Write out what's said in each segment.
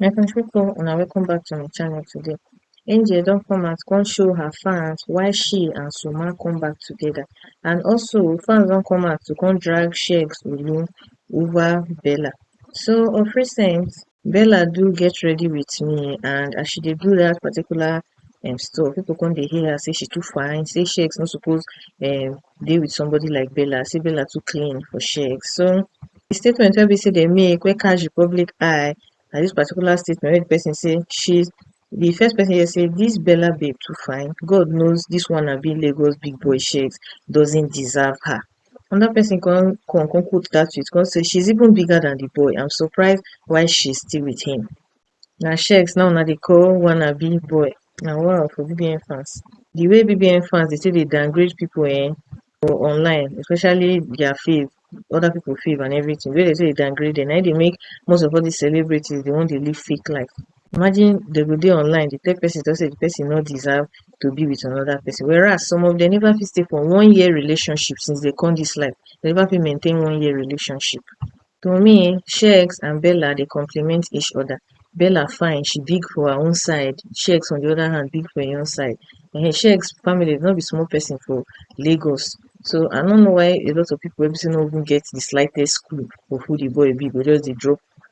My country people una welcome back to my channel today. Angel don come out come show her fans why she and Suma come back together and also fans don come out to come drag Sheikh Sulu over Bella. So of recent Bella do get ready with me and as she dey do that particular um, stuff, people come dey hear her say she too fine, say shakes no suppose um, dey with somebody like Bella, say Bella too clean for shakes. So the statement wey be say they make wey catch the public eye na this particular statement wey the person say she the first person here say this Bella babe too fine. God knows this one na be Lagos big boy shakes doesn't deserve her. another person come come come quote that tweet come say she's even bigger than the boy I'm surprised why she's still with him na shex now una dey call wannabe boy na wow for bbn fans the way bbn fans dey take dey downgrade people eh for online especially their fave other people fave and everything wey dey take dey downgrade them na im dey make most of all these celebrities dey wan dey live fake life Imagine dem go dey online dey tell person sey de person no deserve to be with another person whereas some of dem never fit stay for one year relationship since dem come dis life dem never fit maintain one year relationship. To me um Sheex and Bella dey compliment each other, Bella fine she big for her own side, Sheex on de other hand big for im own side um Sheex family no be small person for Lagos so I no know why a lot of pipu wey be sey no even get de slightest clue of who de boy be go just dey drop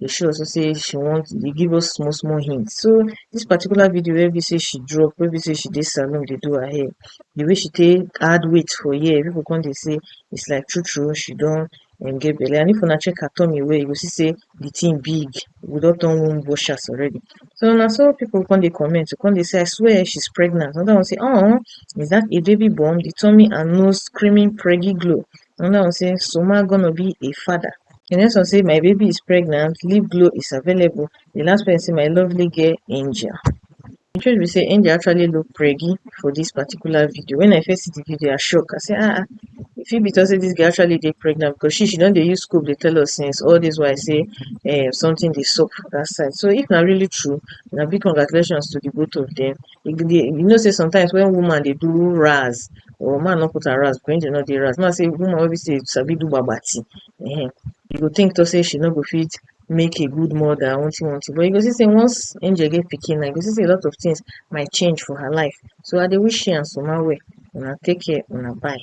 dey show us sey she want dey give us small small hint. So dis particular video wey be sey she drop wey be sey she dey salon dey do her hair, de way she take add weight for here pipu come dey sey is like true true she don um get belle and if una check her tummy well you go see sey de thing big, e go don turn womb washers already. So na so pipu come dey comment dey come dey sey I swear she's pregnant another one sey um is dat a baby bump, de tummy and nose screaming preggy glow And now say Soma gonna be a father. The next one say my baby is pregnant, lip glow is available. The last one say my lovely girl Angel. The truth be say Angel actually look preggy for this particular video. When I first see the video, I shock. I say ah, ah if it be to say this girl actually dey pregnant because she she don dey use scope dey tell us since all this why I say eh, something dey sup for that side. So if na really true, na big congratulations to the both of them. e go dey you know sey sometimes wen woman dey do ras or man nor put her ras wen she nor dey ras na sey woman wey be sey sabi do gbagba tin um you go tink talk sey she nor go fit make a good moda one tin one tin but you go see sey once angel get pikin na you go see sey a lot of tins might change for her life so I dey wish she and suma well una take care una bye.